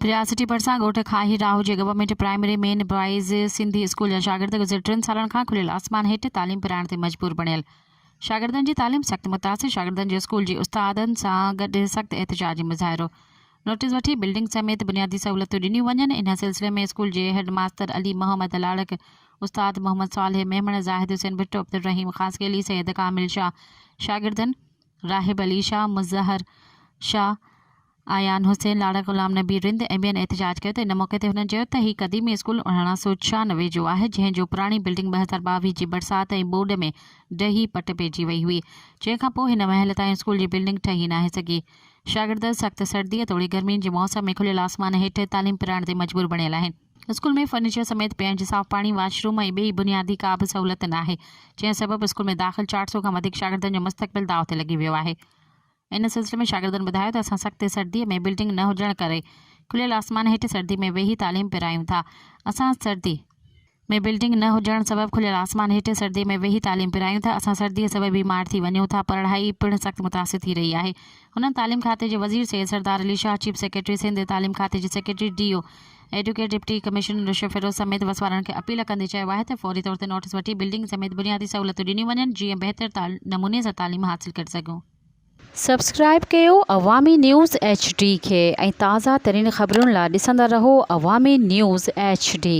رياسٽي ڀرسان ڳوٺ کاهي راهو جي government primary main boys Sindhi school جا شاگرد گذريل ٽن سالن کان کليل آسمان هيٺ تعليم پرائڻ تي مجبور بڻيل شاگردن جي تعليم سخت متاثر شاگردن جو اسڪول جي استادن سان گڏ سخت احتجاجي مظاهرو نوٽيس وٺي بلڊنگ سميت بنيادي سهولتون ڏنيون وڃن ان سلسلي ۾ اسڪول جي هيڊ ماستر علي محمد لاڙڪ استاد محمد صالح ميمڻ زاهد حسين ڀٽو عبدالرحيم خاصخيلي سيد ڪامل شاهه شاگردن راهب علي شاهه مظهر شاهه ايان حسين، لاڙا غلام نبي رند ۽ ٻين احتجاج ڪيو ته ان موقعي تي هنن چيو ته هي قديمي اسڪول اڻاڻا سو ڇهانوي جو آهي جنهن جو پراڻي بلڊنگ ٻه هزار ٻاويهه جي برسات ۽ ٻوڏ ۾ ڊهي پٽ پئجي وئي هئي جنهن کان پوء هن مهل تائين اسڪول جي بلڊنگ ٺهي ناهي سگهي شاگرد سخت سردي توڙي گرمين جي موسم ۾ کليل آسمان هيٺ تعليم پرائڻ تي مجبور بڻيل آهن. اسڪول ۾ فرنيچر سميت پيئڻ جي صاف پاڻي، واش روم ۽ ٻئي بنيادي ڪا به سهولت ناهي جنهن سبب اسڪول ۾ داخل چار سو کان وڌيڪ شاگردن جو مستقبل داء تي لڳي ويو آهي. ان سلسلي ۾ شاگردن ٻڌايو ته اسان سختي سردي ۾ بلڊنگ نه هجڻ ڪري کليل آسمان هيٺ سردي ۾ ويهي تعليم پرايون ٿا اسان سردي ۾ بلڊنگ نه هجڻ سبب کليل آسمان هيٺ سردي ۾ ويهي تعليم پرايون ٿا اسان سردي سبب بيمار ٿي وڃون ٿا پرڙهائي پڻ سخت متاثر ٿي رهي آهي هنن تعليم کاتي جي وزير سيد سردار علي شاهه چيف سيڪريٽري سنڌ تعليم کاتي جي secretary D O advocate deputy commissioner Rashid Feroz سميت وس وارن کي اپيل ڪندي چيو آهي ته فوري طور تي نوٽيس وٺي بلڊنگ سميت بنيادي سهولتون ڏنيون وڃن جيئن بهتر نموني سان تعليم حاصل ڪري سگهون. سبسڪرائيب ڪيو عوامي نيوز ايڇ ڊي کي ۽ تازه ترين خبرن لا ڏسندا رهو عوامي نيوز ايڇ ڊي.